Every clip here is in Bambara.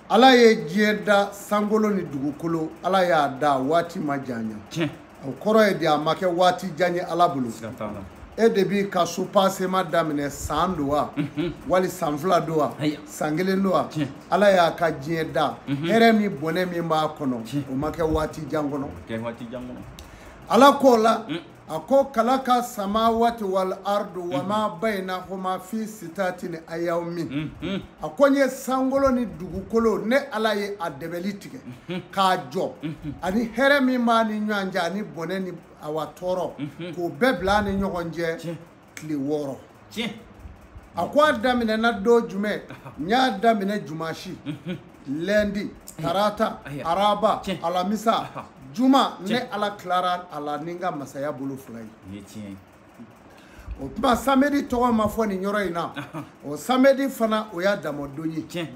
ala ye diɲɛ da sankolo ni dugukolo ala y'a da waati ma janya o kɔrɔ ye de a ma kɛ waati jan ye ala bolo e de b'i ka so pasema daminɛ san don wa mhm. wali san fila don wa san kelen don wa ala y'a ka diɲɛ da mhm. hɛrɛ min bɔnɛ min b'a kɔnɔ o ma kɛ waati jan kɔnɔ ala k'o la mm. a ko kalaka samawati wal ardu wa ma bayinahoma fi sitati ni ayamin a ko n ye sankolo ni dugukolo ne ala ye a dɛbɛli tigɛ k'a jɔ ani hɛrɛ min b'a ni ɲɔgɔn cɛ ani bɔnɛ ni awa tɔɔrɔ k'o bɛɛ bila a ni ɲɔgɔn cɛ tile wɔɔrɔ tiɲɛ a ko a daminɛna don jumɛn n y'a daminɛ jumasi lɛndi tarata araba alamisa juma ne ala tilara a la ni n ka masaya bolo fila ye o tuma samedi tɔgɔ ma fɔ nin yɔrɔ in na o samedi fana o y'a damɔdon ye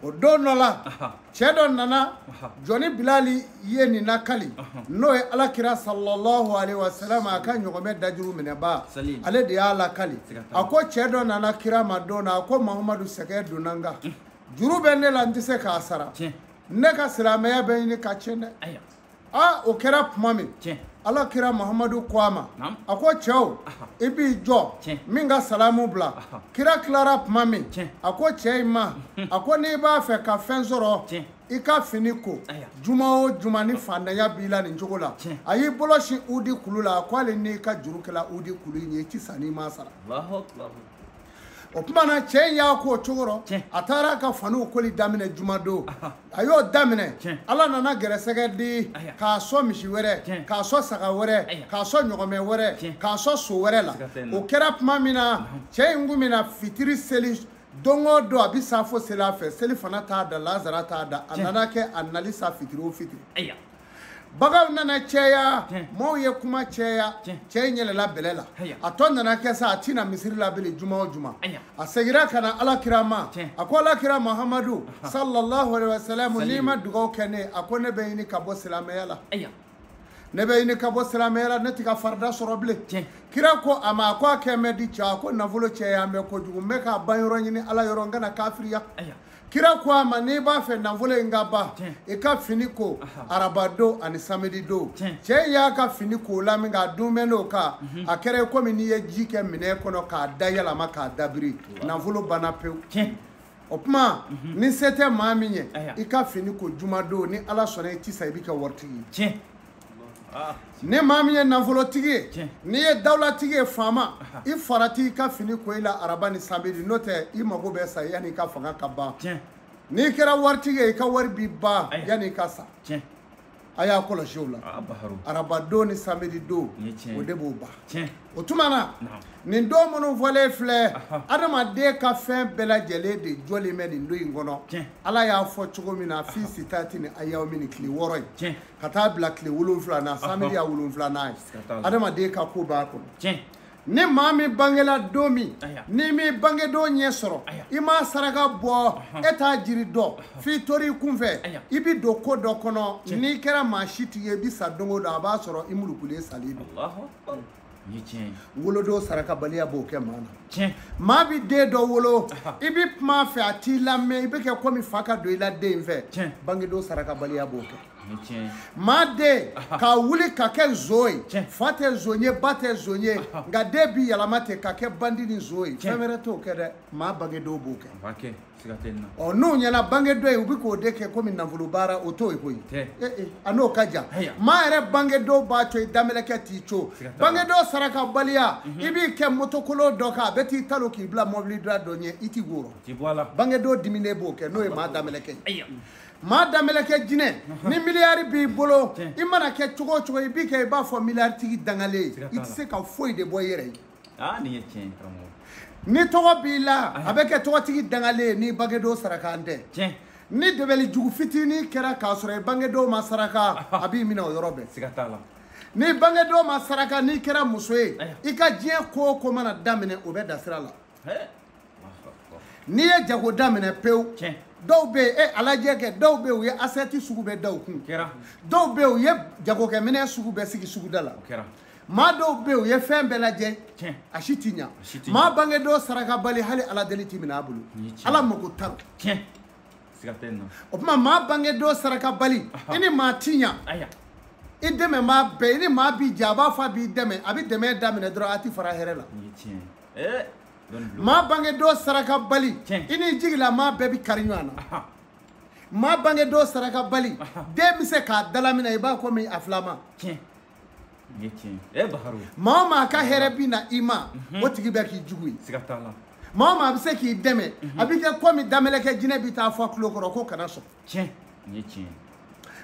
o don dɔ la cɛ dɔ nana jɔni bilali ye nin lakali n'o ye alakira sallallahu alaihi wasallam a ka ɲɔgɔmɛ dajuru minɛba ale de y'a lakali a ko cɛ dɔ nana kira ma don na a ko mahamadu sɛgɛ donna n kan juru bɛ ne la n tɛ se k'a sara ne ka silamɛya bɛ ɲini ka tiɲɛ dɛ aa o kɛra tuma min tiɲɛ ala kira mahamadu ko a ma Naam. a ko cɛw i b'i jɔ Tiɲɛ. n bɛ n ka salamu bila kira tilara tuma min Tiɲɛ. a ko cɛ in ma a ko n'i b'a fɛ ka fɛn sɔrɔ Tiɲɛ. i ka fini ko Aya. juma o juma ni fantanya b'i la nin cogo la Tiɲɛ. a y'i bolo sin udi kulu la a ko hali n'i ka juru kɛla udi kulu in ye i ti sa n'i m'a sara Allahu akbar. o tuma na cɛ in y'a k'o cogo rɔ Tiɲɛ. a taara ka faniw koli daminɛ jumadon a y'o daminɛ Tiɲɛ. ala nana gɛrɛsɛgɛ di Aya. k'a sɔn misi wɛrɛ Tiɲɛ. k'a sɔn saga wɛrɛ Aya. k'a sɔn ɲɔgɔmɛ wɛrɛ Tiɲɛ. k'a sɔn so wɛrɛ la Siga tɛ n na. o kɛra tuma min na cɛ in kun bɛ na fitiri seli don o don a bɛ saafo seli a fɛ selifana t'a da lazara t'a da a Tiɲɛ. nana kɛ a nali sa fitiri o fitiri ayiwa baganw nana cɛya maaw ye kuma cɛya cɛ in yɛlɛla bɛlɛ la a tɔ nana kɛ sa a ti na misiri la bilen juma o juma a segira ka na ala kira ma a ko ala kira mahamadu sallallahu alaihi wasallam n'i ma dugaw kɛ n ye a ko ne bɛ ɲini ka bɔ silamɛya la ne bɛ ɲini ka bɔ silamɛya la ne ti ka farida sɔrɔ bilen kira ko a ma a ko a kɛ mɛ di cɛ a ko nafolo cɛya mɛ kojugu n bɛ k'a ban yɔrɔ ɲini ala yɔrɔ n kana kafiriya kira ko a ma n'i b'a fɛ nafolo in ka ban i ka fini ko araba don ani samedi don cɛ in y'a ka fini ko la min k'a don bɛnn'o kan mhm. a kɛra komi n'i ye ji kɛ minɛn kɔnɔ k'a da yɛlɛma k'a dabiri nafolo banna pewu o tuma mhm. ni se tɛ maa min ye i ka fini ko jumadon ni ala sɔnna i ti sa i bɛ kɛ waritigi ye Ah. ni maa min ye nafolotigi ye n'i ye dawulatigi ye faama i farati i ka fini ko i la araba ni samedi n'o tɛ i mago bɛ sa yanni i ka fanga ka ban n'i kɛra waritigi ye i ka wari bi ban yanni i ka sa a y'a kɔlɔsi o la ah, araba don ni samedi don o de b'o ban o tuma na nin don minnu fɔlen filɛ adamaden ka fɛn bɛɛ lajɛlen de jɔlen bɛ nin don in kɔnɔ ala y'a fɔ cogo min na fi sitati ni ayamin ni tile wɔɔrɔ ye ka taa bila tile wolonwula na samedi y'a wolonwulanan ye adamaden ka ko b'a kɔnɔ ni maa min bangela don min n'i m'i bangedon ɲɛ sɔrɔ i m'a saraka bɔ e t'a jiri dɔn f'i tori i kunfɛ i bi don ko dɔ kɔnɔ n'i kɛra maa si tigi ye i bi sa don o don a b'a sɔrɔ i mulukulen salen don wolodon sarakabaliya b'o kɛ maa na maa bɛ den dɔ wolo i bɛ kuma a fɛ a t'i lamɛn i bɛ kɛ komi fa ka don i la den in fɛ bangedon sarakabaliya b'o kɛ maa den ka wuli ka kɛ nson ye fa tɛ nson ye ba tɛ nson ye nka den bi yɛlɛma ten ka kɛ bandi ni nson ye fɛn wɛrɛ t'o kɛ dɛ maa bangedon b'o kɛ ɔ n'u ɲɛna bangedon ye u bɛ k'o de kɛ komi nafolo baara o t'o ye koyi eh, eh, a n'o ka jan maa yɛrɛ bangedon b'a to i damelɛkɛ t'i co bangedon sarakabaliya mhm. i b'i kɛ motokolo dɔ kan a bɛ t'i talo k'i bila mɔbiliba dɔ ɲɛ i t'i wɔrɔ bangedon diminen b'o kɛ n'o ye maa damelɛkɛ ye maa damelɛkɛ jinɛ mhm. ni miliyari b'i bolo i mana kɛ cogo o cogo i bi kɛ i b'a fɔ miliyaritigi dangalen i tɛ se ka foyi de bɔ i yɛrɛ ye aa nin ye tiɲɛ ye karamɔgɔ ni tɔgɔ b'i la a bɛ kɛ tɔgɔtigi dangalen ye n'i bangedon sarakan tɛ tiɲɛ ni dɛbɛli jugu fitinin kɛra k'a sɔrɔ i bangedon ma saraka a b'i minɛ o yɔrɔ bɛɛ siga t'a la ni bangedon ma saraka n'i kɛra muso ye i ka diɲɛ ko o ko mana daminɛ o bɛ da sira la n'i ye jago daminɛ pewu dɔw bɛ yen e a lajɛ kɛ dɔw bɛ yen u ye asɛti sugu bɛɛ da u kun dɔw bɛ yen u ye jagokɛminɛn sugu bɛɛ sigi suguda la maa dɔw bɛ yen u ye fɛn bɛɛ lajɛ Tiɲɛ. a si ti ɲa si ti ɲa. maa bangedon sarakabali hali ala deli ti minɛ a bolo Ni tiɲɛ. ala mago t'a la tiɲɛ siga tɛ nin na o tuma maa bangedon sarakabali i ni maa ti ɲa i dɛmɛmaa bɛɛ i ni maa bi jɛ a b'a fɔ a b'i dɛmɛ a bɛ dɛmɛ daminɛ dɔrɔn a ti fara hɛrɛ la nin ye tiɲɛ ye ɛɛ dɔnni bulon maa bangedon sarakabali Tiɲɛ. i ni jigila maa bɛɛ bɛ kari ɲɔgɔn na Aha. maa bangedon sarakabali den bɛ se k'a dalaminɛ i b'a komi a filama tiɲɛ maa o maa ka hɛrɛ bɛ na i ma mhm. o tigi bɛ k'i jugu ye maa o maa bɛ se k'i dɛmɛ mhm. a bɛ kɛ kɔmi damelɛkɛ jinɛ bɛ t'a fɔ a tulo kɔrɔ ko kana sɔn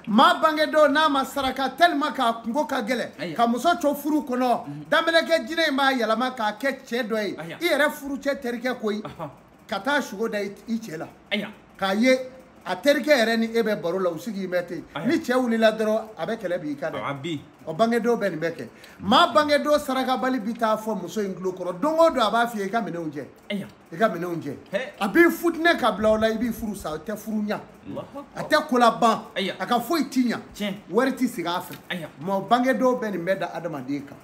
maa bangedon n'a ma saraka tellement k'a kunko ka gɛlɛn ka muso co furu kɔnɔ mhm. damelɛkɛ jinɛ in b'a yɛlɛma k'a kɛ cɛ dɔ ye i yɛrɛ furucɛ terikɛ koyi ka taa sugo da i cɛ la k'a ye a terikɛ yɛrɛ ni e bɛ baro la u sigi bɛ ten ni cɛ wulila dɔrɔn a bɛ kɛlɛ b'i kan dɛ o bangedon bɛ nin bɛɛ kɛ maa bangedon sarakabali bɛ taa fɔ muso in tulo kɔrɔ don o don a b'a f'i ye i ka minɛnw jɛ i ka minɛnw jɛ a b'i futinɛ ka bila o la i b'i furu sa a tɛ furu ɲa a tɛ ko laban a ka foyi ti ɲa wari ti sigi a fɛ maa bangedon bɛ nin bɛɛ da adamaden kan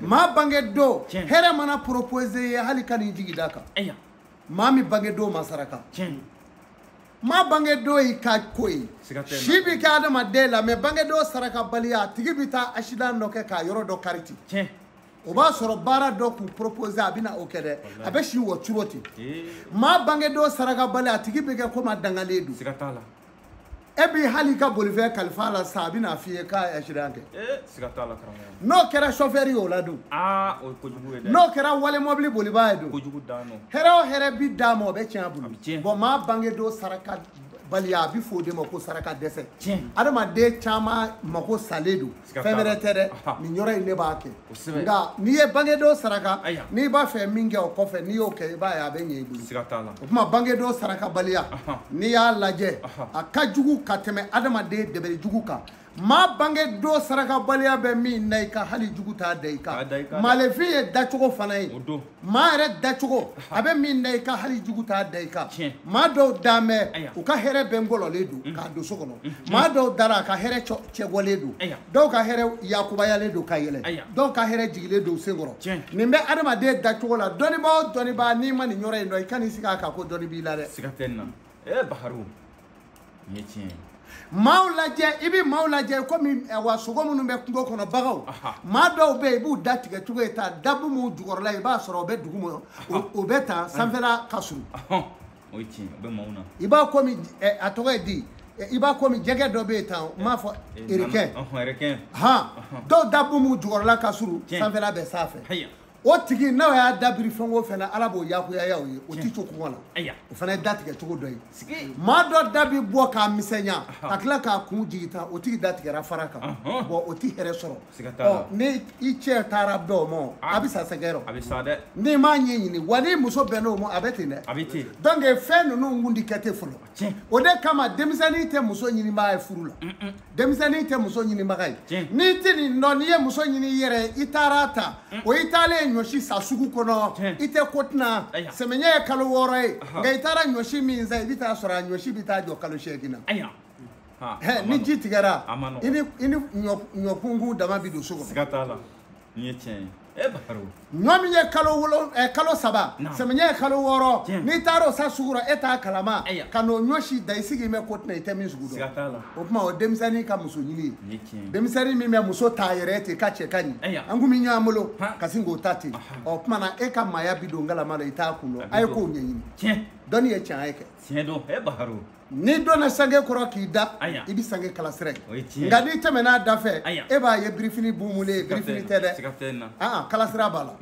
maa bangedon hɛrɛ mana proposé ye hali kan'i jigi d'a kan maa min bange don ma saraka maa bange don y'i ka ko ye si bɛ kɛ adamaden la mais bange don sarakabaliya a tigi bɛ taa asidan dɔ kɛ k'a yɔrɔ dɔ kari ten o b'a sɔrɔ baara dɔ kun proposé a bɛna o kɛ dɛ a bɛ si wɔ cogo ten maa bange don sarakabaliya a tigi bɛ kɛ komi a dangalen don e bi hali i ka bolifɛn kalif'a la sa a bɛn'a f'i ye k'a asidan kɛ eh, siga t'a la karamɔgɔ n'o kɛra sɔfɛri ye o la dun aa o ye kojugu ye dɛ n'o kɛra wali mɔbili bolibaa ye dun kojugu dan don hɛrɛ o hɛrɛ bi d'a ma o bɛ tiɲɛ a bolo bɔn maa bangedon sarakabaliya a bɛ fɔ o de ma ko saraka dɛsɛ tiɲɛ adamaden caman mako salen don fɛn wɛrɛ tɛ dɛ nin yɔrɔ in ne b'a kɛ nka n'i ye bangedon saraka n'i b'a fɛ min kɛ o kɔfɛ n'i y'o kɛ i b'a ye a bɛ ɲɛ i bolo o tuma bangedon sarakabaliya n'i y'a lajɛ a ka jugu ka tɛmɛ adamaden dɛbɛli jugu kan maa bange don sarakabaliya bɛ min da i kan hali jugu t'a da i kan maalefin ye dacogo fana ye maa yɛrɛ dacogo a bɛ min da i kan hali jugu t'a da i kan maa dɔw dan bɛ u ka hɛrɛ bɛɛ ngɔlɔlen don mm. k'a don so kɔnɔ mm. maa dɔw dara a ka hɛrɛ cɛbɔlen don dɔw ka hɛrɛ yakubayalen don ka yɛlɛ dɔw ka hɛrɛ jigilen don sen kɔrɔ nin bɛ adamaden dacogo la dɔnnibaa o dɔnnibaa n'i ma nin yɔrɔ in dɔn i kan'i sigi a kan ko dɔnni b'i la dɛ siga tɛ nin na ee eh, baharu n ye tiɲɛ ye maaw lajɛ i bɛ maaw lajɛ komi eh, wa sogo minnu bɛ kungo kɔnɔ baganw maa dɔw bɛ yen i b'u da tigɛ cogo ye ta dabu minnu jukɔrɔla i b'a sɔrɔ o bɛ dugu ma o bɛ ta sanfɛla ka surun o ye tiɲɛ o bɛ maaw na i b'a komi eh, a tɔgɔ ye di eh, i b'a komi jɛgɛ dɔ bɛ yen tan n b'a fɔ requin han dɔw dabu minnu jukɔrɔla ka surun sanfɛla bɛ sanfɛ o tigi n'o y'a da biri fɛn o fɛn na ala b'o yakuyaya o ye o ti to kɔngɔ la Ayiwa. o fana ye da tigɛ cogo dɔ ye Sigi. maa dɔ da bi bɔ k'a misɛnya ka tila k'a kun jigin tan o tigi da tigɛra fara kan Ɔhɔn. bɔn o ti hɛrɛ sɔrɔ Siga t'a la. Ɔ, ni i cɛ taara bɛn o ma o, Ah. a bɛ sa sɛgɛn rɔ A bɛ sa dɛ. n'i m'a ɲɛɲini wali muso bɛnna o ma a bɛ ten dɛ A bɛ ten. donc fɛn ninnu kun ti kɛ ten fɔlɔ tiɲɛ o de kama denmisɛnnin tɛ muso ɲinibaga ye furu la denmisɛnnin tɛ muso ɲinibaga ye tiɲɛ n'i tɛ nin dɔn n'i ye muso ɲini i yɛrɛ ye i taara a ta o i taalen ye ɲɔsi san sugu kɔnɔ Tiɲɛ. i tɛ ko tɛna Aya. samiɲɛ ye kalo wɔɔrɔ ye Aha. nka i taara ɲɔsi min san i bɛ taa sɔrɔ a ɲɔsi bɛ taa jɔ kalo seegin na aya ha Hɛ, a man ni nɔgɔn. ji tigɛra A man nɔgɔn. i ni i ni ɲɔ- ɲɔkunkun dama bɛ don so kɔnɔ siga t'a la Nin ye tiɲɛ ye. Eh, ɲɔ min ye kalo wolo eh, kalo saba samiyɛ ye kalo wɔɔrɔ n'i taara o san sugu rɔ e t'a kalama ka n'o ɲɔ si dan i sigi mɛ ko tɛna i tɛ min sugu dɔn o tuma o denmisɛnnin ka muso ɲini ye denmisɛnnin min bɛ muso t'a yɛrɛ ten ka cɛ ka ɲi an kun bɛ ɲɔgɔn bolo ka sin k'o ta ten o tuma na e ka maaya bi don galama la i t'a kun dɔn a ye k'o ɲɛɲini dɔnni ye tiɲɛ ye kɛ tiɲɛ don e baharo n'i donna sange kɔrɔ k'i da i bɛ sange kala sira ye nka n'i tɛmɛna a da fɛ e b'a ye birifini bumulen ye birifini tɛ dɛ aa kala sira b'a la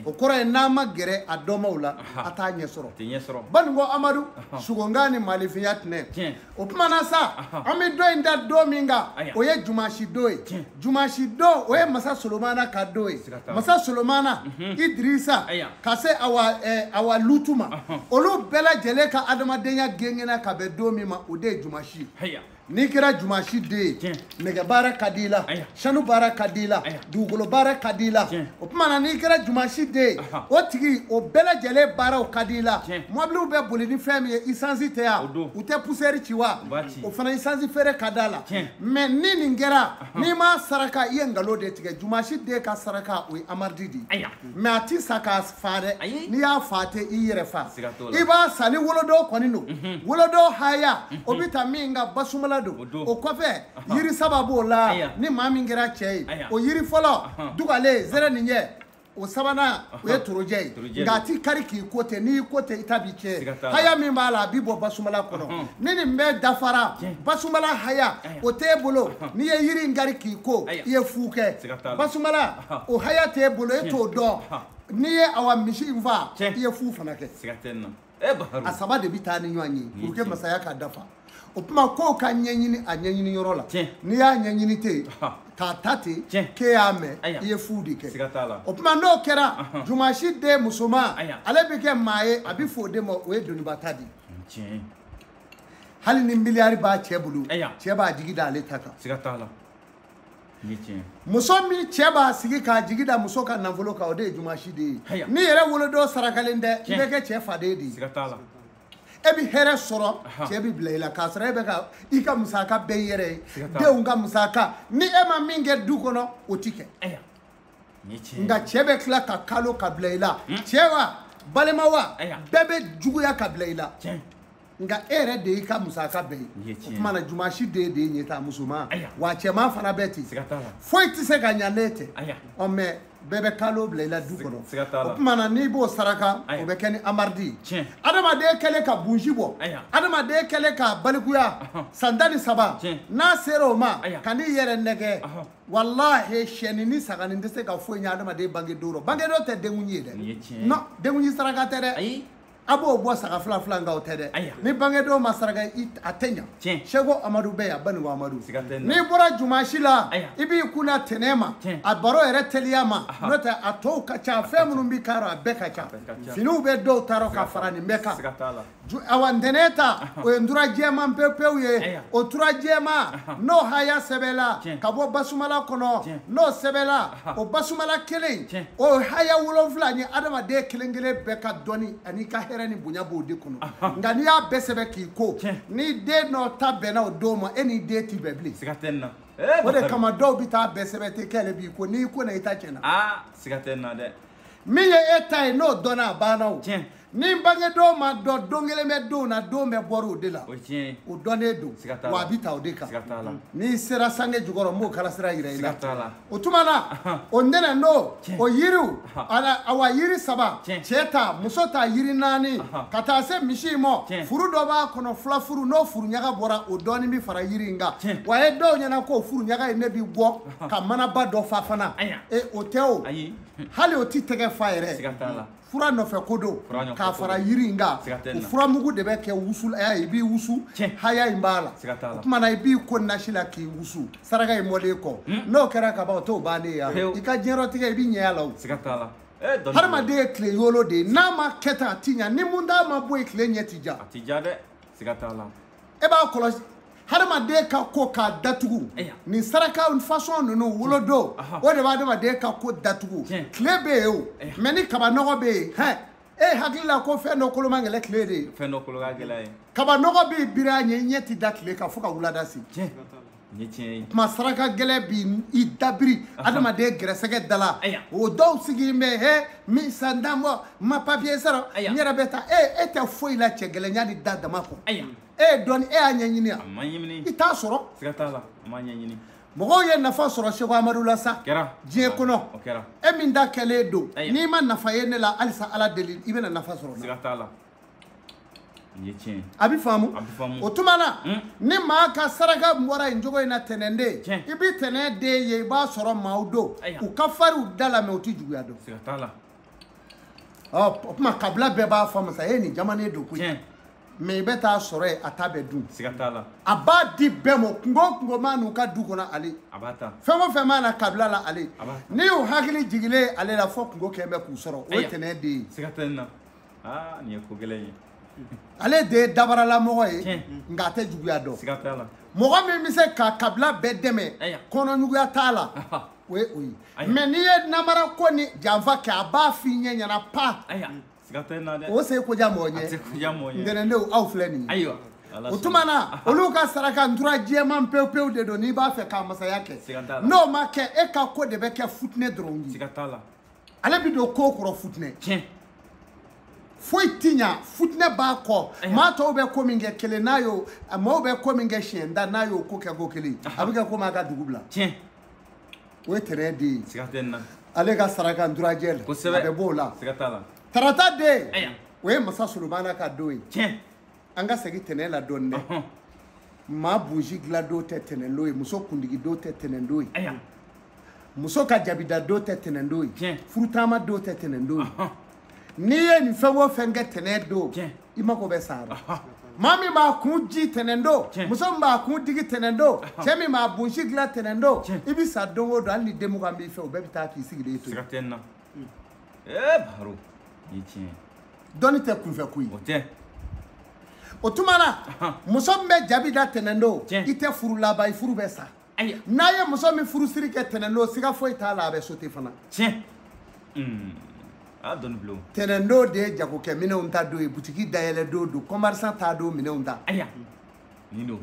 o kɔrɔ ye n'an ma gɛrɛ a dɔnbaw la an t'a ɲɛ sɔrɔ baninkɔ amadu sugonkan ni maalifinya tɛnɛ o tuma na sa an bɛ dɔ in da don min kan o ye jumasi don ye jumasi don o ye masa solomana ka don ye masa solomana mhm. idirisa ka se awa eh, awa lutu ma olu bɛɛ lajɛlen ka adamadenya gengenna ka bɛn don min ma o de ye jumasi ye n'i kɛra jumasi den ye nɛgɛ baara ka di i la sanu baara ka di i la dugukolo baara ka di i la o tuma na n'i kɛra jumasi den ye o tigi o bɛɛ lajɛlen baaraw ka di i la mɔbiliw bɛ boli ni fɛn min ye isansi tɛ yan u tɛ pusɛri ci wa o fana isansi feere ka d'a la mɛ ni nin kɛra n'i m'a saraka i ye nkalon de tigɛ jumasi den ka saraka o ye amaridi de ye mɛ a ti san k'a faa dɛ n'i y'a faa ten i yɛrɛ faa i b'a san ni wolodon kɔni don wolodon haya o bɛ ta min ka basumala don o kɔfɛ yiri saba b'o la ni maa min kɛra cɛ ye o yiri fɔlɔ dugalen zɛrɛninjɛ o sabanan o ye torojɛ ye nka a ti kari k'i ko ten n'i ko ten i ta bi tiɲɛ haya min b'a la a bi bɔ basumala kɔnɔ ni nin bɛɛ dafara basumala haya o t'e bolo n'i ye yiri in kari k'i ko i ye fu kɛ basumala o haya t'e bolo e t'o dɔn n'i ye awa misi in faa i ye fu fana kɛ eh, a saba de bɛ taa ni ɲɔgɔn ye pour que masaya ka dafa o tuma kow ka ɲɛɲini a ɲɛɲini yɔrɔ la n'i y'a ɲɛɲini ten k'a ta ten k'e y'a mɛn i ye fu de kɛ o tuma n'o kɛra jumasi den musoman ale bɛ kɛ maa ye a bɛ fɔ o de ma o ye doniba ta de ye hali ni miliyari b'a cɛ bolo cɛ b'a jigi da ale ta kan muso min cɛ b'a sigi k'a jigi da muso ka nafolo kan o de ye jumasi den ye n'i yɛrɛ wolodon sarakalen tɛ i bɛ kɛ cɛ faden de ye e bɛ hɛrɛ sɔrɔ cɛ bɛ bila i la k'a sɔrɔ e bɛ ka i ka musaka bɛɛ i yɛrɛ ye denw ka musaka ni e ma min kɛ du kɔnɔ o ti kɛ Ni cɛ ye. nka cɛ bɛ tila ka kalo ka bila i la cɛ wa balima wa Ayiwa. bɛɛ bɛ juguya ka bila i la Tiɲɛ. nka e yɛrɛ de y'i ka musaka bɛɛ ye Nin ye tiɲɛ ye. o tuma na jumasi den de ye ɲɛtaa musoman Ayiwa. wa cɛman fana bɛ ten Siga t'a la. foyi tɛ se ka ɲa ne tɛ Ayiwa. ɔ mɛ bɛɛ bɛ kalo bila i la du kɔnɔ siga t'a la. o tuma na n'i b'o saraka Ayiwa. o bɛ kɛ ni amaridi ye Tiɲɛ. adamaden kɛlen ka bunsi bɔ Ayiwa. adamaden kɛlen ka balikuya Ahɔn. san tan ni saba Tiɲɛ. n'a sera o ma Ayiwa. kan'i yɛrɛ nɛgɛn Ahɔn. walahi sɛni ni saga ni tɛ se ka foyi ɲɛ adamaden bange don rɔ bange don tɛ denkundi ye dɛ non denkundi saraka tɛ dɛ a b'o bɔ saga fila fila nka o tɛ dɛ ni bange don ma saraka a tɛ ɲa seko amadu bɛ yan banigo amadu n'i bɔra jumasi la i b'i kunna tɛnɛ ma a baro yɛrɛ teliya ma n'o tɛ a tɔw ka ca fɛn minnu bɛ k'a rɔ a bɛɛ ka ca finiw bɛ dɔw ta rɔ ka fara nin bɛɛ kan awa ntɛnɛ ta o ye ntura jɛman pepewu ye o tura jɛman n'o haya sɛbɛla ka bɔ basumala kɔnɔ n'o sɛbɛla o basumala kelen o haya wolonfila ni adamaden kelen kelen bɛɛ ka dɔni ani ka hɛrɛ ni bonya b'o de kɔnɔ nka n'i y'a bɛɛ sɛbɛ k'i ko ni den n'o ta bɛnna o don ma e ni den ti bɛn bilen o de kama dɔw bɛ taa bɛɛ sɛbɛ ten k'ale b'i ko n'i ko na i ta tiɲɛna min ye e ta ye n'o dɔnna a banna o ni bange don ma dɔn don kelen bɛ donw na don bɛɛ bɔra o de la o dɔnnen don wa a bɛ ta o de kan n'i sera sange jukɔrɔ n b'o kala sira yira i la o tuma na o ntɛnɛ n'o o yiriw awa yiri saba cɛ ta muso ta yiri naani ka taa se misi in ma furu dɔ b'a kɔnɔ fila furu n'o furu ɲaga bɔra o dɔɔni bɛ fara yiri in kan wa a ye dɔw ɲɛna ko furu ɲaga in ne bɛ bɔ ka manaba dɔ fa fana o tɛ o hali o tɛ tɛgɛ fa yɛrɛ fura nɔfɛ ko don k'a fara yiri in kan o fura mugu de bɛ kɛ wusu la i b'i wusu haya in b'a la o tuma na i b'i ko nasi la k'i wusu saraka in mɔlen kɔ hmm. n'o kɛra ka ban o t'o bannen ye i ka diɲɛlatigɛ i b'i ɲɛ a la o hadamaden ye tile yolo de ye n'a ma kɛ tan a ti ɲa ni mun d'a ma bɔ yen tile ɲɛ ti ja a ti ja dɛ siga t'a la e b'a kɔlɔsi hadamaden ka ko ka datugu nin saraka fasɔn ninnu wolodon o de bɛ adamaden ka ko datugu tile bɛ yen o mɛ ni kaba nɔgɔ bɛ yen hɛn e hakili la ko fɛn dɔ kolo man gɛlɛ tile de ye fɛn dɔ kolo ka gɛlɛ ye kaba nɔgɔ bɛ biri a ɲɛ i ɲɛ ti da tile kan fo ka wulada se ni tiɲɛ ye kuma saraka gɛlɛ bi i dabiri adamaden gɛrɛsɛgɛ dala o dɔw sigilen bɛ he min san tan bɔ ma papiye sɔrɔ n yɛrɛ bɛ taa e e tɛ foyi la cɛ gɛlɛya n'i da dama kɔ e ye dɔni e y'a ɲɛɲini a ma ɲɛɲini i t'a sɔrɔ siga t'a la a ma ɲɛɲini mɔgɔw ye nafa sɔrɔ seko amadu la sa kɛra diɲɛ kɔnɔ o kɛra e min da kɛlen don n'i ma nafa ye ne la halisa ala deli i bɛna nafa sɔrɔ siga t'a la a bɛ faamu o tuma na hmm. ni maa ka saraka bɔra nin cogo in na tɛnɛnden i bɛ tɛnɛn den ye i b'a sɔrɔ maaw don u ka fari u da la mɛ u tɛ juguya dɔn ɔ o tuma kabila bɛɛ b'a fɔ masa e nin jamanen don koyi mɛ i bɛ taa sɔrɔ yen a ta bɛ dun a b'a di bɛɛ ma kungo o kungo maa n'u ka du kɔnɔ ale fɛn o fɛn maa na kabila la ale ni u hakili jigilen ale la fo kungo kɛlen bɛ k'u sɔrɔ o ye tɛnɛn den ye aa nin ye ko gɛlɛn ye ale de ye dabaralamɔgɔ ye Tiɲɛ. nka a tɛ juguya dɔn siga t'a la mɔgɔ min bɛ se ka kabila bɛɛ dɛmɛ Aya. kɔnɔjuguya t'a la Aha. o ye o ye Aya. mɛ n'i ye namara ko ni janfa kɛ a b'a f'i ɲɛ ɲɛna pa aya siga tɛ n na dɛ o se ko diya mɔgɔ a tɛ ɲɛ kuya mɔgɔ ye ntɛnɛndenw aw filɛ nin ye ayiwa Ala o sɔnna. tuma na olu ka saraka ntura jɛman pewu pewu de don n'i b'a fɛ k'a masaya kɛ Siga t'a la. n'o ma kɛ e ka ko de bɛ kɛ futinɛ dɔrɔn ye siga t'a la ale bɛ don ko kɔrɔ futinɛ tiɲɛ foyi ti ɲa futinɛ b'a kɔ Ayiwa. maa tɔw bɛ ko min kɛ kelen n'a y'o a maaw bɛ ko min kɛ siɲɛ tan n'a y'o ko kɛ ko kelen a bɛ kɛ komi a ka dugu bila tiɲɛ o ye tɛnɛn den ye siga tɛ nin na ale ka saraka nturajɛ de kosɛbɛ a bɛ b'o la siga t'a la tarata den Ayiwa. o ye masa solomana ka don ye tiɲɛ an ka segin tɛnɛ la dɔɔni dɛ Ɔhɔn. maa bunsi dilandon tɛ tɛnɛndon ye muso kundigidon tɛ tɛnɛndon ye Aya. muso ka jabidadon tɛ tɛnɛndon ye Tiɲɛ. furutaama don tɛ tɛnɛndon ye Ɔhɔn. n'i ye nin fɛn o fɛn kɛ tɛnɛndon Tiɲɛ. i mago bɛ sa a la Ɔhɔn. maa min b'a kun di tɛnɛndon Tiɲɛ. muso min b'a kun digi tɛnɛndon cɛ min b'a bunsi dilan tɛnɛndon Tiɲɛ. i bɛ sa don o don hali ni den mugan b'i fɛ o bɛɛ bɛ taa k'i sigilen to yen Siga tɛ n na. ee baro i ye tiɲɛ ye dɔnni tɛ kunfɛ ko ye o tɛ o tuma na muso min bɛ jabi da tɛnɛndon Tiɲɛ. i tɛ furu laban i furu bɛ sa ayi n'a ye muso min furusiri kɛ tɛnɛndon siga foyi t'a la a bɛ sote fana tiɲɛ Hmm. a dɔnni bulon tɛnɛndon de ye jagokɛ minɛnw ta don ye butigi dayɛlɛ don don kɔmarisan ta don minɛnw ta ayiwa nin don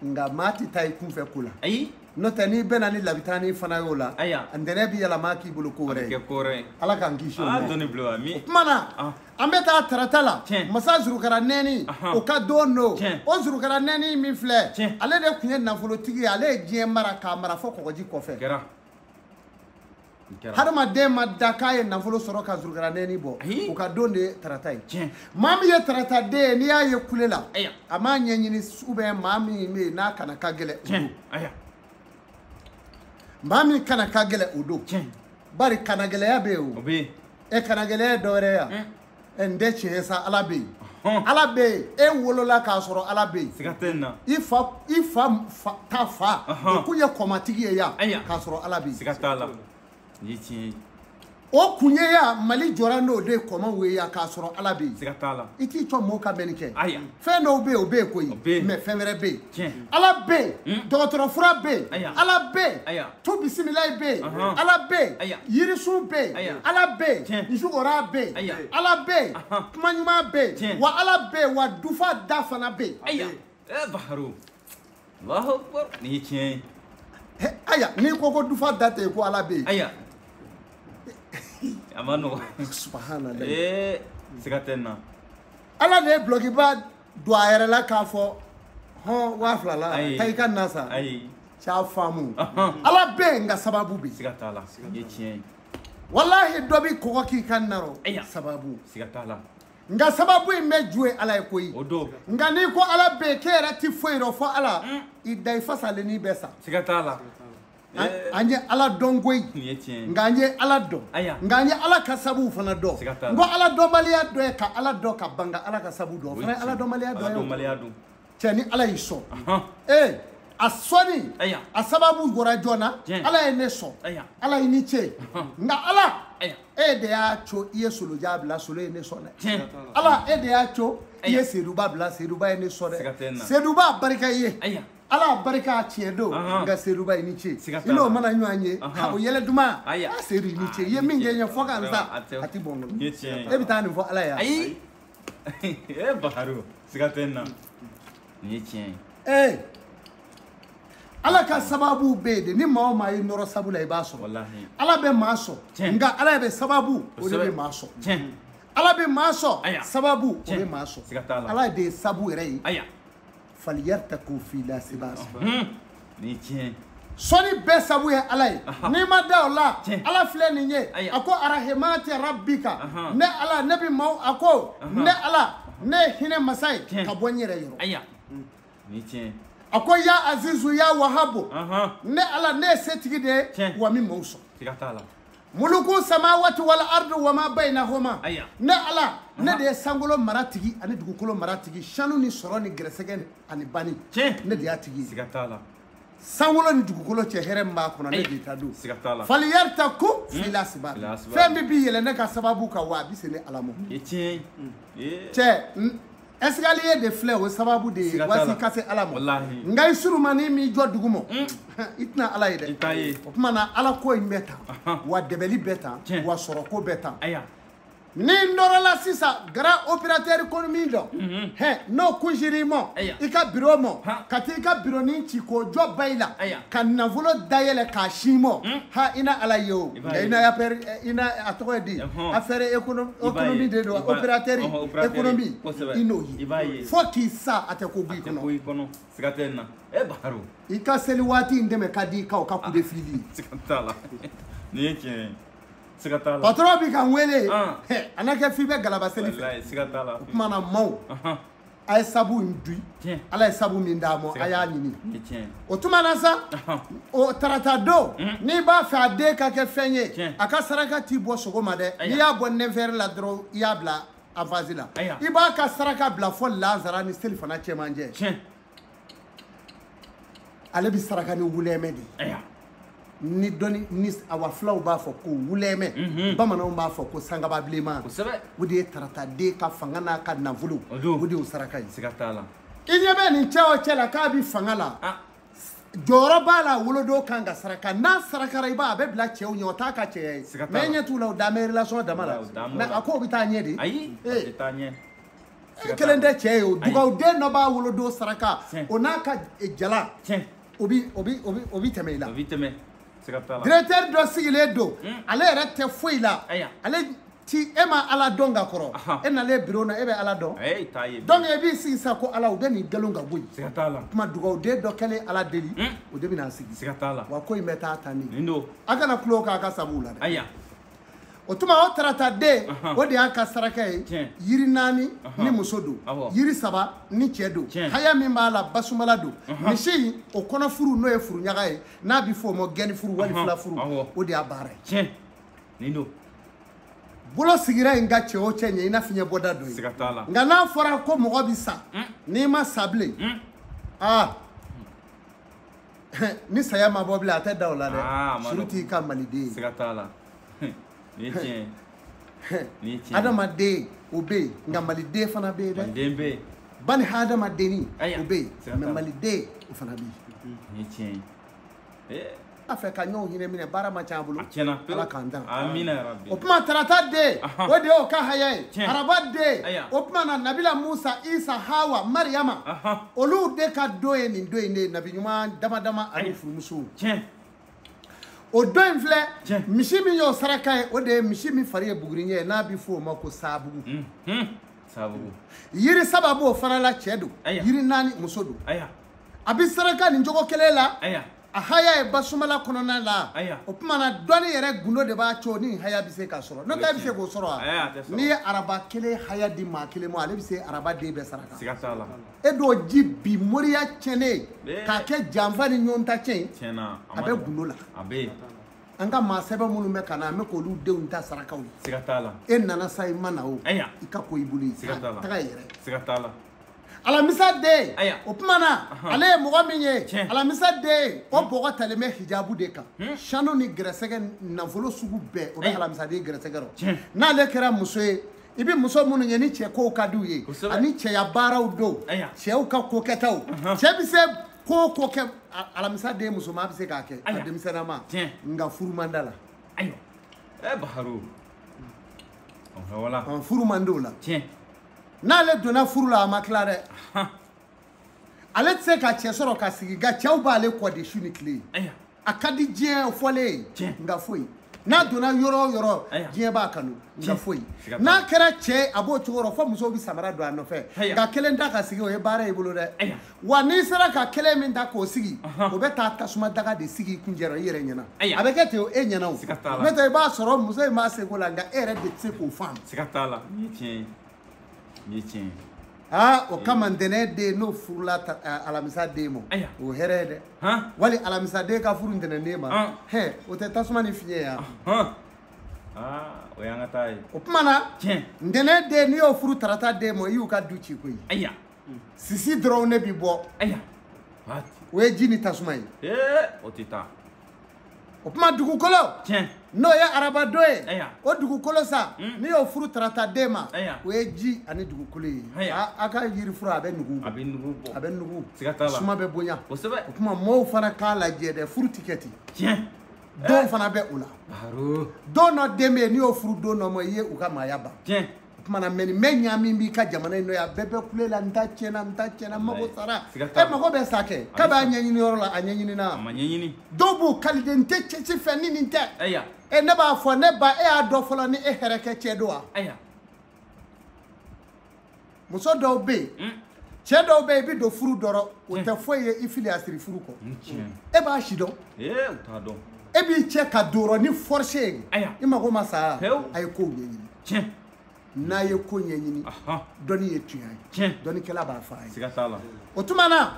nka maa tɛ taa i kunfɛ ko la ayi n'o tɛ n'i bɛna ni labitani fana y'o la ayiwa ntɛnɛ bɛ yɛlɛma k'i bolo ko wɛrɛ ye kɔrɔ ye ala k'an kisi o ma dɔnni bila wa mi o tuma na ah. an bɛ taa tarata la masa zurukaranɛni o ka don don o zurukaranɛni min filɛ ale de tun ye nafolotigi ye ale ye diɲɛ mara k'a mara fɔ kɔgɔji kɔfɛ hadamaden ma da k'a ye nafolo sɔrɔ ka zurukaranɛni bɔ o ka don de ye tarata ye maa min ye tarata den ye n'i y'a ye kule la a m'a ɲɛɲini ubiyɛn maa min bɛ yen n'a kana ka gɛlɛn o don maa min kana ka gɛlɛn o don bari kanagɛlɛya bɛ yen o e kanagɛlɛya ye dɔ wɛrɛ ye wa ɛ n tɛ tiɲɛ sa ala bɛ yen ala bɛ yen e wolola k'a sɔrɔ ala bɛ yen siga tɛ n na i fa i fa fa ta fa Ɔhɔn. o kun ye kɔmatigi ye yan Aya. k'a sɔrɔ ala bɛ yen siga t'a la nin ye tiɲɛ ye o kun ye yan mali jɔra n'o de ye kɔmaw ye yan k'a sɔrɔ ala bɛ yen siga t'a la i t'i cɔ mɔgɔw ka mɛnni kɛ aya fɛn dɔw bɛ yen o bɛ yen koyi mɛ fɛn wɛrɛ bɛ yen ala bɛ yen dɔgɔtɔrɔfura bɛ yen ala bɛ yen tu bisimilayi bɛ yen ala bɛ yen yirisun bɛ yen ala bɛ yen nsukora bɛ yen ala bɛ yen kuma ɲuman bɛ yen wa ala bɛ yen wa dufa da fana bɛ yen. nin ye tiɲɛ ye aya n'i ko ko dufa da tɛ yen ko ala bɛ yen aya a ma nɔgɔ subahanallahi ee siga tɛ n na ala de ye dulɔkiba don a yɛrɛ la k'a fɔ hɔn waa fila la taa i ka na san ayi c'a faamu ala bɛ yen nka sababu bɛ yen siga t'a la nin ye tiɲɛ ye walahi dɔ bɛ kɔgɔ k'i ka narɔ sababu siga t'a la nka sababu in bɛɛ ju ye ala ye koyi o don nka n'i ko ala bɛ yen k'e yɛrɛ ti foyi dɔn fo ala i da i fasalen n'i bɛ sa siga t'a la an an ye ala dɔn koyi nin ye tiɲɛ ye nka an ye ala dɔn Aya. nka an ye ala ka sabuw fana dɔn Siga t'a la. n ko ala dɔnbaliya dɔ ye ka ala dɔn ka ban ka ala ka sabu dɔn o fana ye ala dɔnbaliya dɔ ye o. dɔnbaliya don cɛ ni ala y'i sɔn ee a sɔnni a sababu bɔra jɔn na ala ye ne sɔn ala i ni ce nka ala e de y'a co i ye solojan bila solo ye ne sɔn dɛ ala e de y'a co i ye seduba bila seduba ye ne sɔn dɛ seduba barika i ye ala barika tiɲɛ don nka seduba i ni ce i n'o mana ɲɔgɔn ye o yɛlɛ duman a sedu i ni ce i ye min kɛ n ye fo ka n sa a tɛ bɔn n bolo e bɛ taa nin fɔ ala ye ee bakaro siga tɛ n na nin ye tiɲɛ ye ee ala ka sababu bɛ yen de ni maa o maa y'i nɔrɔ sabu la i b'a sɔrɔ Walahi. ala bɛ maa sɔn Tiɲɛ. nka ala bɛ sababu o de Kosɛbɛ. bɛ maa sɔn tiɲɛ ala bɛ maa sɔn Aya. sababu o Tiɲɛ. bɛ maa sɔn Siga t'a la. ala de ye sabu yɛrɛ ye aya faliyaritaku fil asbab ni tiɲɛ sɔnni bɛɛ sabu ye ala ye n'i ma da o la ala filɛ nin ye a ko arahemati rabika ne ala ne bɛ maaw a ko ne ala ne ye hinɛ masa ye ka bɔ n yɛrɛ yɔrɔ ni tiɲɛ a ko ya azizu ya wahabu ne ala ne ye setigi de ye wa n bɛ maaw sɔn muluku samawati wal ardu wa ma bainahuma Aya. ne ala ne de ye sankolo mara tigi ani dugukolo mara tigi sanu ni sɔrɔ ni gɛrɛsɛgɛ ni- ani bani Tiɲɛ. ne de y'a tigi ye siga t'a la sankolo ni dugukolo cɛ hɛrɛ min b'a kɔnɔ ne Ayi. de ta don siga t'a la faliyaritaku fil asbab Fil asbab. fɛn min b'i yɛlɛ ne ka sababu kan wa a bɛ se ne ala ma nin ye tiɲɛ ye Ee. cɛ n- escalier de filɛ o sababu de ye waasi ka se ala ma nka i surumani m'i jɔ dugu ma mm. i tɛna ala ye dɛ o tuma na ala ko in bɛ tan wa dɛbɛli bɛ tan wa sɔrɔko bɛ tan ni n nɔrɔla sisan grand opérateur économique dɔ mhm. hɛ n'o kunsiri i ma i ka biro ma ka taa i ka bironin ci k'o jɔ ba i la ka nafolo dayɛlɛ k'a sin i ma hmm? ha i na ala ye o i na affaire i na a tɔgɔ ye di affaire économie de don opérateur économie i n'o ye fo k'i sa a tɛ ko b'i kɔnɔ siga tɛ nin na e baro i ka seli waati in dɛmɛ ka di i ka o ka coup de fil siga t'a la nin ye tiɲɛ ye siga t'a la patron b'i ka n wele a na kɛ f'i bɛ galaba seli fɛ siga t'a la o tuma na maaw a ye sabu in dui ala ye sabu min d'a ma a y'a ɲini o tuma na sa o tarata don mm. n'i b'a fɛ a den ka kɛ fɛn ye a ka saraka ti bɔ sɔgɔma dɛ n'i y'a bɔ neuf heures la dɔrɔn i y'a bila avance la i b'a ka saraka bila fɔ lazara ni selifana cɛmancɛ ale bɛ saraka ni wulɛmɛ de ye ni dɔnni ni awa fulaw b'a fɔ ko wulɛmɛ mhm. bamananw b'a fɔ ko sangaba bilenman o de ye tarataden ka fanga n'a ka nafolo o de y'o saraka ye i ɲɛ bɛ nin cɛ o cɛ la k'a bɛ fanga la ah. jɔyɔrɔ b'a la wolodon kan ka saraka n'a sarakara i b'a a bɛ bila cɛw ɲɛ o t'a ka cɛya ye mɛ ɲɛ t'u la o dan bɛ relation dama la mɛ a ko o bɛ taa ɲɛ de ayi a tɛ taa ɲɛ e kelen tɛ cɛ ye o dugawuden dɔ b'a wolodon saraka o n'a ka jala o bi o bi o bi o bi tɛmɛ i la o bi tɛmɛ directeur dɔ sigilen don hmm. ale yɛrɛ tɛ foyi la ale ti e ma ala dɔn ka kɔrɔ e nalen biro na e bɛ ala dɔn donc e b'i sigi sa ko ala u bɛ nin galon ka bɔ yen kuma dugawuden dɔ kɛlen ala deli hmm. o de bɛna sigi wa ko in bɛ taa tan de a kana tulon k'a ka sabu la dɛ o tuma o tarata den o de y'a ka saraka ye yiri naani ni muso don yiri saba ni cɛ don haya min b'a la basumala don misi o kɔnɔ furu n'o ye furuɲaga ye n'a bɛ fɔ o ma gɛni furu wali fula furu o de y'a baara ye nin don bolo sigira in kan cɛ o cɛ ɲɛ i na fiɲɛ bɔda dɔn ye nka n'a fɔra ko mɔgɔ bɛ sa n'i ma sa bilen aa ni saya ma bɔ bilen a tɛ da o la dɛ ah, surtout i ka maliden ye siga t'a la nin ye tiɲɛ ye nin ye tiɲɛ ye adamaden o bɛ yen nka maliden fana bɛ yen dɛ maliden bɛ yen ba ni hadamadenni o bɛ yen mais maliden o fana bɛ yen nin ye tiɲɛ ye eh. a fɛ ka ɲɔgɔn hinɛ minɛ baara ma ca a bolo ala k'an dan o tuma tarata den o de y'o ka haya ye araba den o tuma na nabila musa isa hawa mariyama olu de ka don ye nin don in de ye nabi ɲuman dama dama ali furumusow tiɲɛ o don in filɛ Tiɲɛ. misi min y'o saraka ye o de ye misi min fari ye buguriɲɛ ye n'a bɛ fɔ o ma ko saabugu Mhm. sababu yiri saba b'o fana la cɛ don Aya. yiri naani muso don aya a bɛ saraka nin cogo kelen la aya a haya ye basumala kɔnɔna la o tuma na dɔnni yɛrɛ gundo de b'a co ni haya bɛ se ka sɔrɔ n'o tɛ a bɛ se k'o sɔrɔ wa n'i ye araba kelen haya di maa kelen ma ale bɛ se araba den bɛɛ saraka e dɔw ji bi moriya cɛnnen k'a kɛ janfa ni ɲɔgɔn ta cɛn a bɛ gundo la an ka maa sɛbɛ minnu bɛ ka na an bɛ k'olu denw ta sarakaw ye e nana sa i ma na o i ka ko i bolo ye taga yɛrɛ alamisa den o tuma na ale ye mɔgɔ min ye alamisa den o bɔgɔ talen bɛ hijabu de kan sanu ni gɛrɛsɛgɛ nafolo sugu bɛɛ o bɛ alamisaden gɛrɛsɛgɛ rɔ n'ale kɛra muso ye i bɛ muso minnu ye ni cɛ kow ka di u ye ani cɛya baaraw don cɛw ka ko kɛtaw cɛ bɛ se ko o ko kɛ alamisa den musoman bɛ se k'a kɛ a denmisɛnninma nka furu man da la ayiwa ɛ baharu wala furu man di o la n'ale donna furu la a ma tila dɛ ale tɛ se ka cɛ sɔrɔ ka sigi nka cɛw b'ale kɔ de su ni tile a ka di diɲɛ fɔlen ye nka foyi n'a donna yɔrɔ o yɔrɔ diɲɛ b'a kanu nka foyi n'a kɛra cɛ a b'o cogo rɔ fo musow bɛ samara don a nɔfɛ nka kelen ta ka sigi o ye baara y'i bolo dɛ wa n'i sera ka kelen min ta k'o sigi o bɛ taa tasuma daga de sigi i kuncɛ rɔ i yɛrɛ ɲɛna a bɛ kɛ ten o e ɲɛna o n'o tɛ i b'a sɔrɔ muso in b'a seko la nka e yɛrɛ de tɛ se k'o faamu siga t'a la nin ye tiɲɛ ye nin ye tiɲɛ ye aa o kama ntɛnɛn den n'o furula alamisa den ma o hɛrɛ ye dɛ wali alamisa den ka furu ntɛnɛn den ma hɛ o tɛ tasuma ni fiɲɛ ye wa o y'an ka taa ye o tuma na ntɛnɛn den n'i y'o furu tarata den ma i y'u ka du ci koyi sisi dɔrɔn ne bi bɔ o ye ji ni tasuma ye o tɛ taa o tuma dugukolo n'o ye arabadon ye o dugukolo sa hmm. n'i y'o furu tarata den ma o ye ji ani dugukolo ye a ka yirifura a bɛ nugu a bɛ nugu bɔ a bɛ nugu suma bɛ bonya kosɛbɛ o tuma mɔɔw fana k'a lajɛ dɛ furu ti kɛ ten don fana bɛ o la don dɔ den bɛ yen n'i y'o furu don dɔ ma i ye u ka maaya ban o tuma na mɛ nin bɛ ɲa min b'i ka jamana in nɔ yan bɛɛ bɛ kule la n ta tiɲɛna n ta tiɲɛna n mago sara e mago bɛ sa kɛ k'a b'a ɲɛɲini yɔrɔ la a ɲɛɲini na dɔw b'u kali de n tɛ cɛ si fɛ ni nin tɛ e ne b'a fɔ ne ba e y'a dɔn fɔlɔ ni e hɛrɛkɛ cɛ don wa muso dɔw bɛ yen cɛ dɔw bɛ yen i bɛ don furu dɔrɔn o tɛ foyi ye i fili a siri furu kɔ e b'a sidɔn e b'i cɛ ka don o rɔ ni force ye i mago ma sa a ye kow ɲɛɲini n'a ye ko ɲɛɲini dɔnni ye tunya ye dɔnnikɛla b'a fɔ a ye o tuma na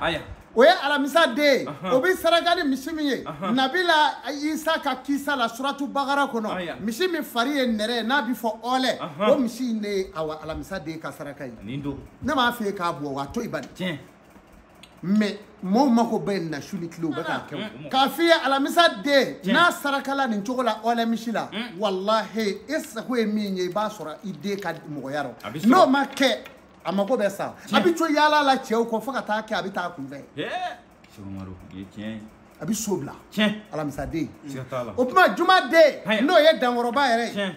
o ye alamisa den ye o bɛ saraka ni misi min ye nabila isa ka kisa la suratu bakara kɔnɔ misi min fari ye nɛrɛ ye n'a bɛ fɔ ɔlɛ o misi in de ye awa alamisa den ka saraka ye ne b'a fɛ k'a bɔ wa to i bani mɛ mɔɔw mako bɛ na su ni tile u bɛ k'a kɛ k'a f'i ye alamisa den n'a sarakala nin cogo la ɔlɛ misi la walahi e sago ye min ye i b'a sɔrɔ i den ka mɔgɔya rɔ n'o ma kɛ a mako bɛ sa a bɛ to yaala la cɛw kɔ fo ka taa kɛ a bɛ taa kunfɛ a bɛ so bila alamisaden o tuma jumaden n'o ye dankɔrɔba yɛrɛ ye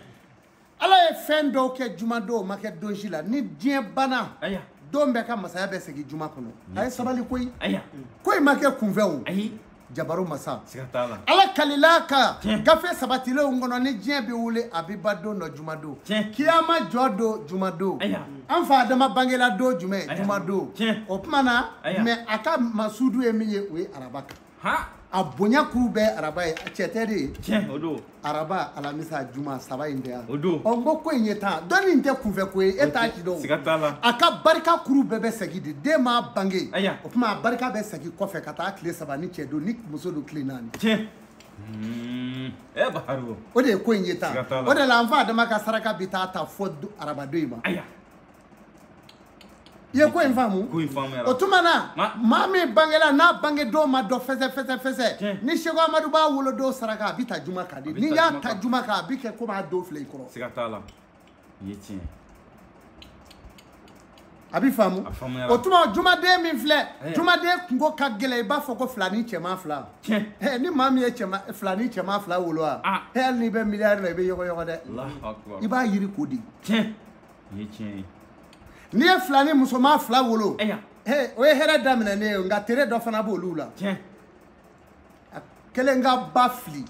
ala ye fɛn dɔw kɛ jumadon o ma kɛ don si la ni diɲɛ banna don bɛɛ ka masaya bɛ segin juma kɔnɔ a ye sabali koyi ko in ma kɛ kunfɛ o jabaru masa ala kalila ka gafe sabatilenw kɔnɔ ni diɲɛ bɛ wuli a bɛ ban don dɔ jumadon kiyama jɔ don jumadon an fa adama bangela don jumɛn jumadon o tuma na mɛ a ka masudu ye min ye o ye araba kan a bonya kuru bɛɛ araba ye cɛ tɛ de ye araba alamisa juma saba in tɛ yan o don ɔ n ko ko in ye tan dɔnni in tɛ kunfɛ ko ye e t'a si dɔn siga t'a la a ka barika kuru bɛɛ bɛ segin de den ma bange Aya. o tuma a barika bɛ segin kɔfɛ ka taa tile saba ni cɛ don ni muso don tile naani tiɲɛ Hmm. ɛ Baro o de ye ko in ye tan Siga t'a la. o de la an fa adama ka saraka bɛ taa ta fo arabadon in ma aya i ye ko in faamu ko in faamuyara o tuma na Ma- maa min bangela n'a bangedon ma dɔn fɛsɛ fɛsɛ fɛsɛ Tiɲɛ. ni seku amadu b'a wolodon saraka a bɛ ta juma kan de bɛ n'i ta y'a juma ta kan. juma kan a bɛ kɛ komi a don filɛ i kɔrɔ siga t'a la nin ye tiɲɛ a bɛ faamu A faamuyara. o tuma jumaden min filɛ Ayiwa. jumaden kunko ka gɛlɛn i b'a fɔ ko filani cɛman fila tiɲɛ Eh, ni maa min ye filani cɛman fila wolo wa Ah. eh, hali n'i bɛ miliyari la i bɛ yɔgɔyɔgɔ dɛ Allahu akbar i b'a yiri ko de tiɲɛ nin ye tiɲɛ ye n'i ye filani musoman fila wolo o ye hɛrɛ daminɛnen ye nka tere dɔ fana b'olu la a kelen ka ba fili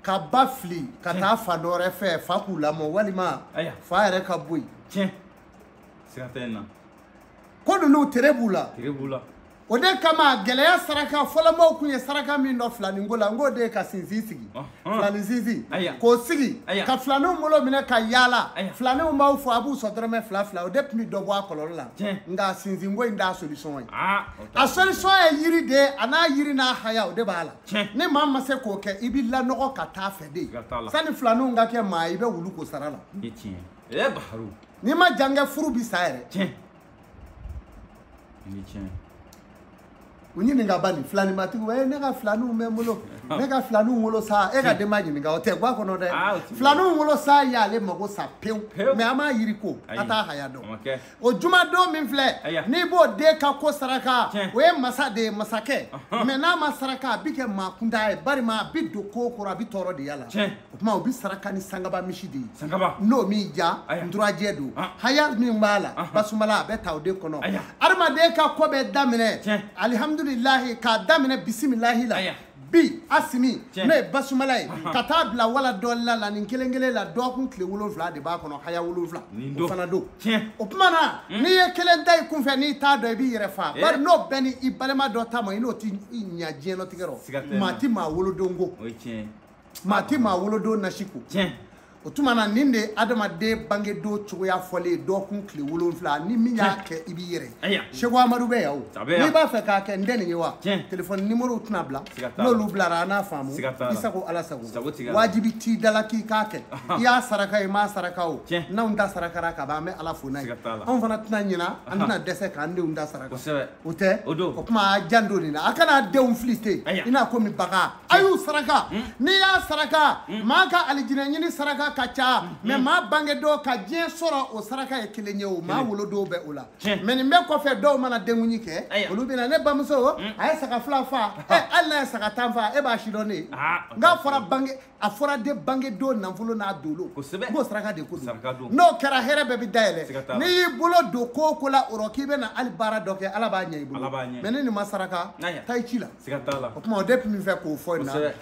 ka ba fili ka taa fa dɔ wɛrɛ fɛ fa k'u lamɔ walima fa yɛrɛ ka bɔ yen ko ninnu tere b'u la o de kama gɛlɛya saraka fɔlɔmɔw kun ye saraka min dɔn filaninko la n k'o de ye ka sinsin sigi filani sinsin k'o sigi ka filaninw bolo minɛ ka yaala filaninw b'aw fo a b'u sɔn dɔrɔmɛ fila fila o de tun bɛ dɔ bɔ a kɔlɔlɔ la nka sinsinko in t'a solution ye a solution ye yiri de ye a n'a yiri n'a haya o de b'a la ni maa ma se k'o kɛ i bɛ lanɔgɔ ka taa fɛ de sanni filaninw ka kɛ maa ye i bɛ wulu ko sara la n'i ma jan kɛ furu bɛ sa yɛrɛ ni tiɲɛ u ɲininka bani filanimatigiw e ne ka filaniw bɛ n bolo ne ka filaniw wolo sa e ka denba ɲininka o tɛ gwa kɔnɔ dɛ filaniw wolo sa y'ale mago sa pewu mɛ a m'a yiri ko a t'a haya dɔn o jumadon min filɛ n'i b'o den ka ko saraka o ye masa de ye masakɛ mɛ n'a ma saraka a bi kɛ maa kuntan ye bari a bi don ko kɔrɔ a bi tɔɔrɔ de y'a la o tuma o bɛ saraka ni sangaba misi de ye sangaba n'o min ja nturajɛ don ah. haya min b'a la ah. basumala a bɛ ta o de kɔnɔ adamaden ka ko bɛ daminɛ alihamudulilahi k'a daminɛ bisimilahi la bi asimi n'o ye basumala ye ka taa bila wala dɔɔlina la nin kelen kelen la dɔgɔkun tile wolonfila de b'a kɔnɔ haya wolonfila o fana don o tuma na hmm. n'i ye kelen ta i kunfɛ n'i t'a dɔn i b'i yɛrɛ faa eh. bari n'o bɛɛ ni i balima dɔ ta ma i n'o tɛ ɲa diɲɛlatigɛ rɔ maa ti maa wolodon ko maa tɛ maa wolodon nasi ko tiɲɛ o tuma na nin de ye adamaden bangedon cogoya fɔlen ye dɔgɔkun tile wolonfila ni min y'a kɛ i b'i yɛrɛ seku amadu bɛ yan o n'i b'a fɛ k'a kɛ n tɛ nin ye wa telefɔni nimorow tɛna bila n'olu bilara an n'a faamu i sago ala sago wajibi t'i da la k'i k'a kɛ i y'a saraka i m'a saraka o n'anw ta sarakara ka ban an bɛ ala fo n'a ye anw fana tɛna ɲina an tɛna dɛsɛ k'an denw ta saraka o tɛ o kuma a janto nin na a kana denw fili ten i n'a komi bagan a y'u saraka n'i y'a saraka maa ka alijinɛ ɲini saraka ka ca mɛ maa bangedon ka diɲɛ sɔrɔ o saraka ye kelen ye o maa wolodonw bɛ o la Tiɲɛ. mɛ nin bɛɛ kɔfɛ dɔw mana denkundi kɛ Aya. olu bɛna ne bamuso a ye saga fila faa ɛ hali n'a ye saga tan faa e b'a sidɔn ne ye Ah, nka a fɔra bange a fɔra de bangedon nafolo n'a dolo Kosɛbɛ. n k'o saraka de ko don Saraka don. n'o kɛra hɛrɛ bɛɛ bɛ Siga t'a dayɛlɛ la. n'i y'i bolo don ko o ko la o rɔ k'i bɛna hali baara dɔ kɛ ala b'a ɲɛ i bolo Ala b'a ɲɛ mɛ ni nin ma saraka taa i ci la o tuma o de tun min fɛ k'o fɔ in na